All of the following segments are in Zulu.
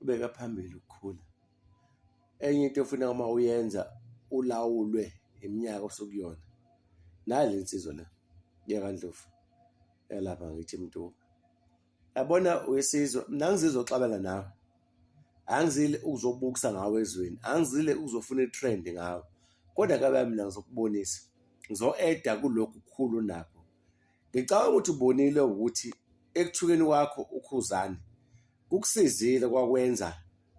ubeka phambili ukukhula enye into ofuna uma uyenza ulawulwe iminyaka osukuyona nale nsizwa la yakandlovu yalapha ngithi mntu yabona wesizwa mina ngizizwa xabana nawe angizile ukuzobukisa ngawe ezweni angizile ukuzofuna itrend ngawe kodwa kabe mina ngizokubonisa ngizo-eda kulokhu kukhulu nakho Ngicabanga ukuthi ubonile ukuthi ekuthukeni kwakho uKhuzani kukusizile kwakwenza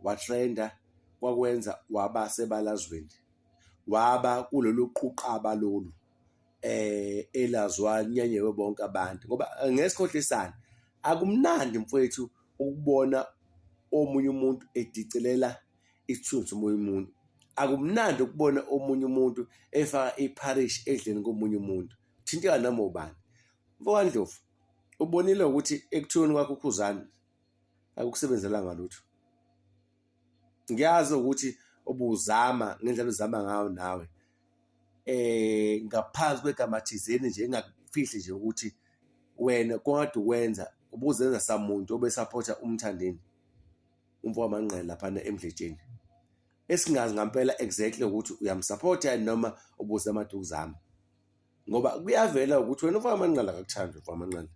watrenda kwakwenza waba sebalazweni waba kulolu quqaba lolu eh elazwa nyanyewe bonke abantu ngoba eh, ngesikhohlisana akumnandi mfowethu ukubona omunye umuntu edicelela isithunzi omunye umuntu akumnandi ukubona omunye umuntu efaka ipharishi edleni komunye umuntu Thinteka noma ubani. MfokaNdlovu, ubonile ukuthi ekuthiyweni kwakho uKhuzani akukusebenzelanga lutho. Ngiyazi ukuthi ubuzama ngendlela uzama ngayo nawe eh ngaphansi kwegama thizeni nje engakufihli nje ukuthi wena kwade ukwenza ubuzenza samuntu obesapotha umthandeni umfo wamanqele laphana emdletsheni esingazi ngampela exactly ukuthi uyamsupport yini noma ubuza amaduku zami ngoba kuyavela ukuthi wena ufaka amanqala akakuthandi ufaka amanqala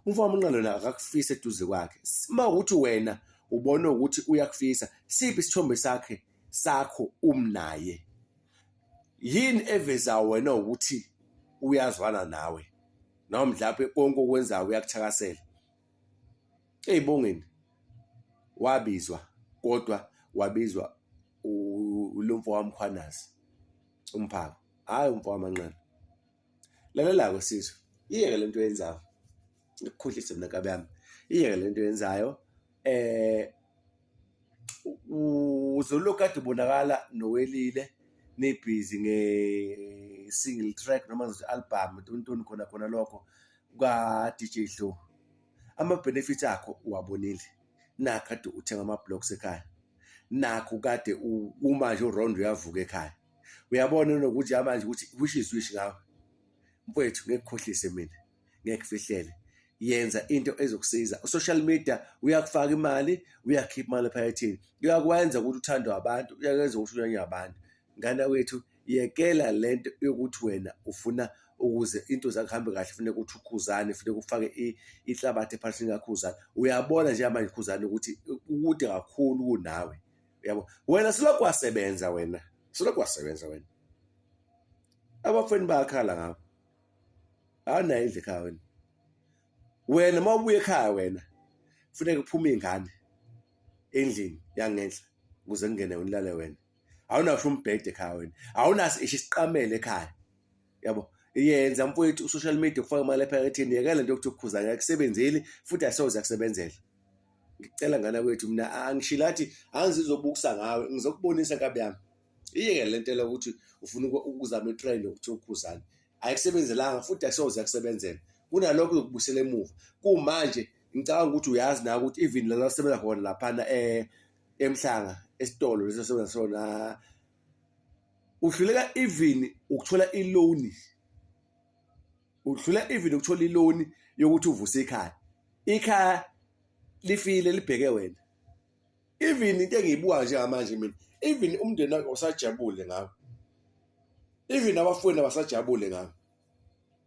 umfaka amanqala yona akakufisa eduze kwakhe uma ukuthi wena ubona ukuthi uyakufisa siphi isithombe sakhe sakho umnaye yini eveza wena ukuthi uyazwana nawe noma mhlawumbe konke okwenzayo uyakuthakasela eyibongeni wabizwa kodwa wabizwa ulomfo wamkhwanazi umphako hayi umfo wamanqana lalela-ko sizwe iyeke le nto yenzayo ikukhohlise mina kabi yami iyeke le nto yenzayo eh uzolokhu kade ubonakala nowelile nibhizi nge-single track noma ngizothi album tontoni khona khona lokho kuka-DJ Hlo ama-benefits akho uwabonile nakho kade uthenga ama-blocks ekhaya nakho kade u- umanje uround uyavuka ekhaya uyabona nokuthi yamanje ukuthi wish is wish ngawe mfowethu ngeke khohlise mina ngeke kufihlele yenza into ezokusiza usocial media uyakufaka imali uyakhipha imali ephakethini uyakwenza ukuthi uthandwe abantu uyakwenza ukuthi unyanye abantu Ngane wethu yekela lento yokuthi wena ufuna ukuze into zakho hambe kahle fune ukuthi ukhuzane fune kufake i- ihlabathi ephalisini kakhuzane uyabona nje manje khuzane ukuthi ukude kakhulu kunawe uyabo wena silokhu wasebenza wena silokhu wasebenza wena abafweni bayakhala ngakho awunayo indlu ekhaya wena wena uma ubuye ekhaya wena funeka kuphume iy'ngane endlini yangenhla ukuze kungene unilale wena awunasho umbhede ekhaya wena awunaso isho isiqamele ekhaya yabo yenza mfowethu usocial media kufaka imali ephaketheni yekela nto yokuthi ukukhuza akakusebenzeli futhi asoze akusebenzela ngicela ngana kwethu mina angishilo athi angizizobukusa ngawe ngizokubonisa nkabi yami iyeke le nto lokuthi ufuna ukuzama itrend yokuthi ukhuzane ayikusebenzelanga futhi asoze akusebenzela kunalokho yokubusela emuva kumanje ngicabanga ukuthi uyazi na ukuthi even lala sebenza khona laphana um emhlanga esitolo lesi osebenza sona ah, uhluleka even ukuthola i-loan uhluleka even ukuthola i-loan yokuthi uvuse ikhaya ikhaya lifile libheke wena even into engiyibuka njengamanje mina even umndeni wakhe usajabule ngawo even abafowenu abasajabule ngawo